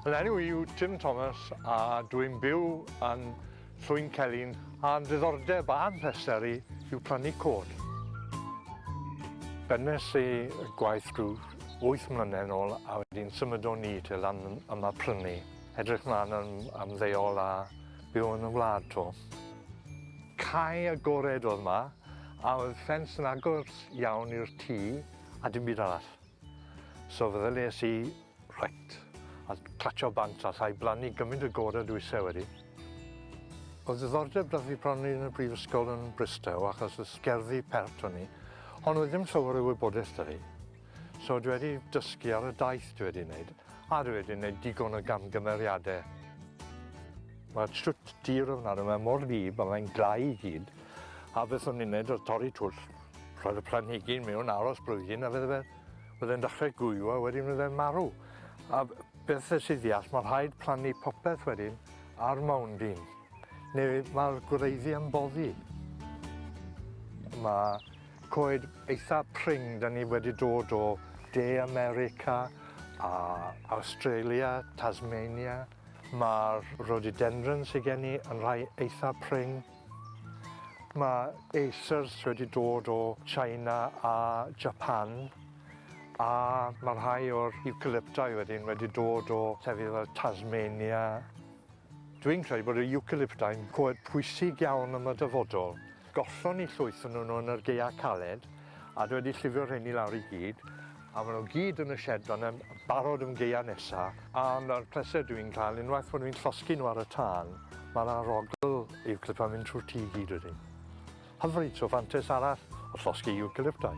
Fy enw i yw Tim Thomas a dwi'n byw yn Llwyn Celyn a'n ddiddordeb a'n pleser i yw plannu cod. Bennes i gwaith rhyw wyth mlynedd ôl a wedyn symudon ni te lan yma prynu. Edrych mlaen am ymddeol a byw yn y wlad to. Cae agored oedd yma a oedd ffens yn agos iawn i'r tŷ a dim byd arall. So feddylies i, reit, a clatsio bant a llai blannu gymryd y gore dwi ise wedi. Oedd ddiddordeb da fi bron yn y brifysgol yn Bristow achos y sgerddi pert o'n i, ond oedd ddim llawer o wybodaeth da fi. So dwi wedi dysgu ar y daith dwi wedi wneud, a dwi wedi wneud digon o gamgymeriadau. Mae'r siwt dir ofnadw, mae mor wlyb a mae'n glau i gyd, a beth o'n i'n wneud oedd torri twll. Roedd y planhigyn mewn aros blwyddyn a fydde fe yn dechrau gwyw a wedyn fydde'n marw. A beth y sydd ddeall, mae rhaid plannu popeth wedyn ar mawnd un, neu mae'r gwreiddi yn boddi. Mae coed eitha pring, da ni wedi dod o De America a Australia, Tasmania. Mae'r rhododendron sydd gen i yn rhai eitha pring. Mae Acers wedi dod o China a Japan a mae rhai o'r Eucalypti wedyn wedi dod o llefydd fel Tasmania. Dwi'n credu bod y Eucalypti'n coed pwysig iawn am y dyfodol. Gollon ni llwyth o nhw yn yr gaeau caled a dwi wedi llifio rheiny lawr i gyd A maen nhw gyd yn y shed fan'na yn barod am gaeau nesa. A ma'r pleser dwi'n cael unwaith bod fi'n llosgi nhw ar y tân, ma'r arogl Eucalypt yn mynd trwy'r tŷ i gyd wedyn. Hyfryd, so fantes arall o llosgi Eucalyptau.